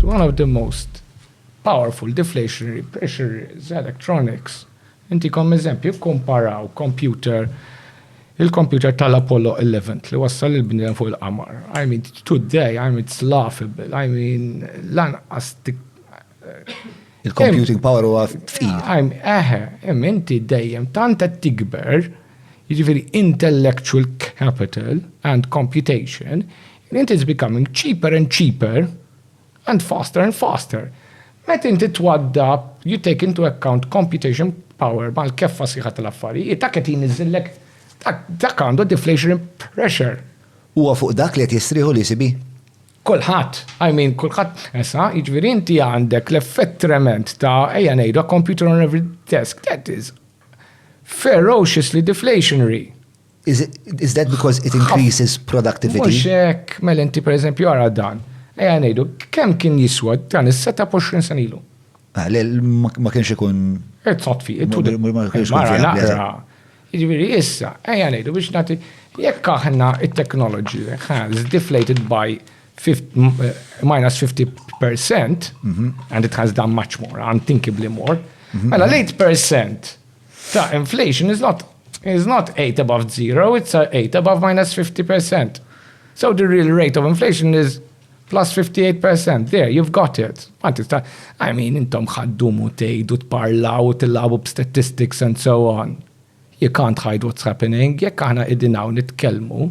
One of the most powerful deflationary pressure is electronics. Intikom eżempju, kkumparaw kompjuter il-kompjuter tal-Apollo 11 li wassal il-bniedem fuq il-qamar. I mean, today, I mean, it's laughable. I mean, lanqas Il-computing power huwa fqir. Eħe, imma inti dejjem tant qed tikber, jiġifieri intellectual capital and computation, Mint is becoming cheaper and cheaper and faster and faster. Meta inti twaddab, you take into account computation power mal-keffa sħiħa tal-affarijiet, dak qed jniżżillek, dak għandu deflationary pressure. Huwa fuq dak li qed jistrieħu l-ECB? Kulħadd. I mean, kulħadd. Issa, jiġifieri inti għandek l-effett trement ta' ejja ngħidu a computer on every desk. That is ferociously deflationary. Is, is that because it increases productivity? Mux hekk, mela inti per eżempju għara dan. Eja ngħidu, kemm kien jiswa dan is-seta 20 sen ilu? Ah, ma kienx ikun. It's not fi, it would. Ma kienx ikun. Ġifieri issa, eja ngħidu biex nagħti jekk aħna it-technology has deflated by eh, minus 50% mhm. and it has done much more, unthinkably more, mhm. mela l-8% Ta' inflation is not is not 8 above 0, it's 8 above minus 50%. So the real rate of inflation is plus 58%. There, you've got it. Ma tista, I mean, intom ħaddumu tgħidu tparlaw u tilabu b'statistics and so on. You can't hide what's happening. Jekk aħna qegħdin hawn nitkellmu,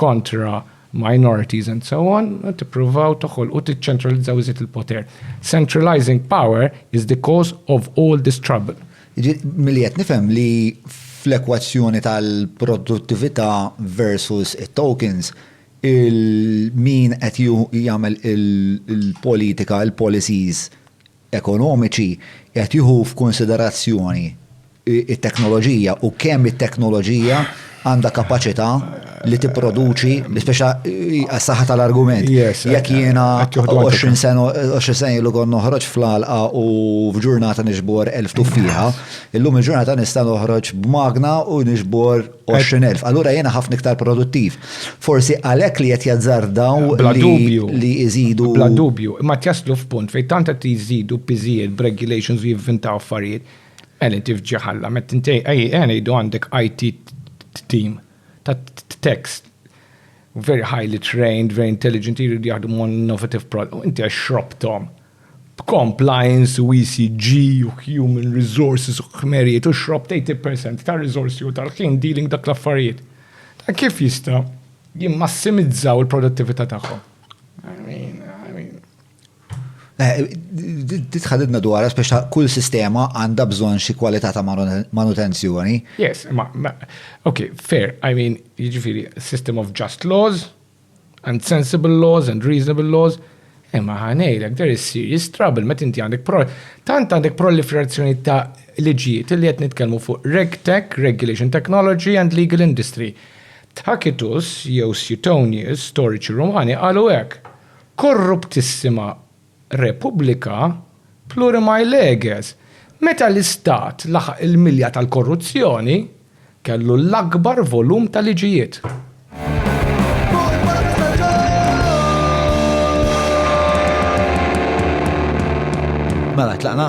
kontra minorities and so on, tippruvaw toħolqu tiċċentralizzaw iżjed il-poter. Centralizing power is the cause of all this trouble. Milli qed nifhem li fl-ekwazzjoni tal-produttività versus it-tokens, il-min qed jagħmel il-politika, il-policies, ekonomiċi qed jieħu f'kunsiderazzjoni t-teknoloġija u kemm it-teknoloġija għandha kapaċità li tipproduċi biex għas-saħħa tal-argument. Jekk jiena 20 sena 20 sena ilu kont noħroġ fl-għalqa u f'ġurnata nixbor elf tuffieħa, illum il-ġurnata nista' noħroġ b'magna u nixbor 20,000. Allura jiena ħafna iktar produttiv. Forsi għalhekk li qed jazzardaw Bla li- dubju. li jżidu. Bla dubju, imma qed jaslu f'punt fejn tant qed jżidu piżijiet b'regulations u jivvintaw affarijiet. Ela inti f'ġi ħalla, meta inti ej ej ngħidu għandek IT team ta' tax very highly trained, very intelligent, jridu jaħdmu on innovative product, u inti għax xrobthom. b'compliance u ECG u human resources u ħmerijiet u xrob t'eighty per cent tar-riżorsi u tal-ħin dealing dak l-affarijiet, ta' kif jista' jimmassimizzaw il-produttività tagħhom? I mean, I mean. Di tħaddidna dwarha spex ta' kull sistema għandha bżonn xi kwalità ta' manutenzjoni. Yes, imma, okay, fair, I mean, jiġifieri system of just laws, and sensible laws and reasonable laws, imma ħanejlek there is serious trouble meta inti għandek pro tant għandek proliferazzjoni ta' liġijiet li qed nitkellmu fuq RegTech, Regulation Technology and Legal Industry. Tacitus jew Suetonius, storiċi Rumani, qalu hekk. Korruptissima Repubblika plurimae leges, meta l-Istat laħaq il-milja tal-korruzzjoni, kellu l-akbar volum ta' liġijiet. Mela, tlaqna?